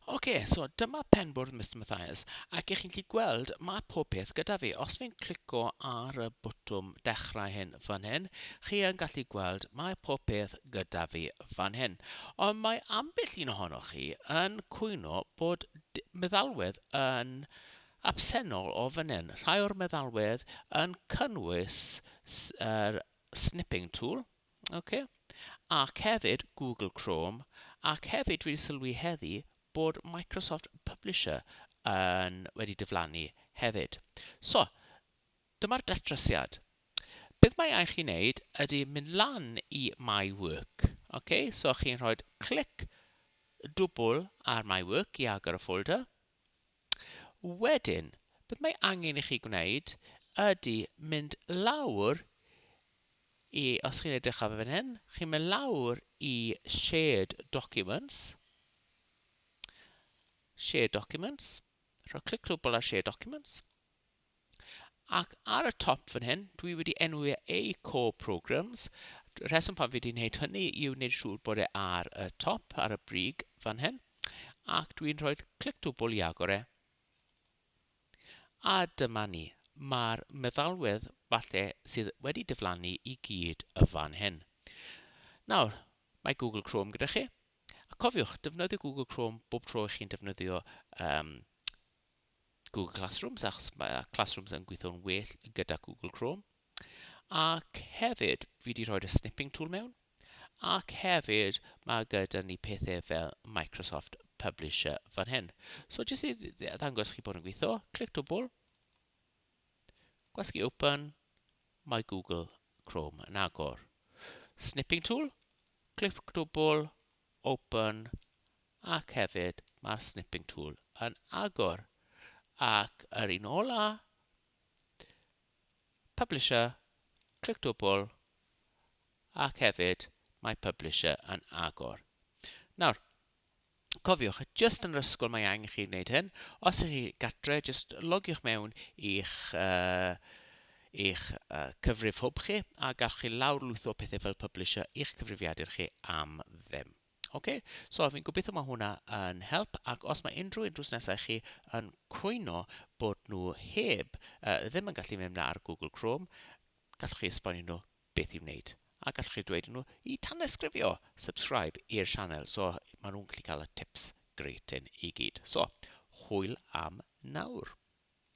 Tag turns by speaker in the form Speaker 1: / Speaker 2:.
Speaker 1: Ok, so dyma penbwrdd Mister Mathias, ac ych chi'n gallu gweld, mae pob peth gyda fi. Os fi'n clico ar y botwm dechrau hyn fan hyn, chi yn gallu gweld, mae pob peth gyda fi fan hyn. Ond mae ambell un ohonoch chi yn cwyno bod d- meddalwedd yn absennol o fan hyn. Rhai o'r meddalwedd yn cynnwys s- yr snipping tool, Ok. Ac hefyd Google Chrome, ac hefyd dwi 'di sylwi heddi bod Microsoft Publisher yn wedi diflannu hefyd. So, dyma'r datrysiad. Beth mae angen chi wneud ydy mynd lan i My Work. Ok, so chi'n rhoi clic dwbl ar My Work i agor y ffolder. Wedyn, beth mae angen i chi gwneud ydy mynd lawr i... os chi'n edrych ar fan hyn, chi'n mynd lawr i Shared Documents, Shared Documents, rhoi clic cwbl ar Shared Documents. Ac ar y top fan hyn, dwi wedi enwi e eu Core Programmes. Y rheswm pan fi wedi wneud hynny yw wneud siŵr bod e ar y top, ar y brig fan hyn. Ac dwi'n rhoi clic dwbl i agor e. A dyma ni. Mae'r meddalwedd falle sydd wedi diflannu i gyd y fan hyn. Nawr, mae Google Chrome gyda chi. A cofiwch, defnyddio Google Chrome bob tro i chi'n defnyddio um, Google Classrooms achos mae Classrooms yn gweithio'n well gyda Google Chrome. Ac hefyd, fi wedi rhoi'r snipping tool mewn. Ac hefyd, mae gyda ni pethau fel Microsoft Publisher fan hyn. So jyst i ddangos chi bod yn gweithio, clic dwbl, gwasgu open, mae Google Chrome yn agor. Snipping tool, clic dwbl, open ac hefyd mae'r snipping tool yn agor ac yr un ola publisher clic dwbl ac hefyd mae publisher yn agor nawr cofiwch jyst yn yr ysgol mae angen chi wneud hyn os ych chi gatre jyst logiwch mewn i'ch uh, eich cyfrif hwb chi a gallwch chi lawrlwytho pethau fel publisher i'ch cyfrifiadur chi am ddim. OK, so fi'n gobeithio mae hwnna yn help ac os mae unrhyw un drws nesau chi yn cwyno bod nhw heb uh, ddim yn gallu mynd ar Google Chrome, gallwch chi esbonio nhw beth i wneud a gallwch chi dweud nhw i tanysgrifio, subscribe i'r sianel, so maen nhw'n gallu cael y tips gret i gyd. So, hwyl am nawr.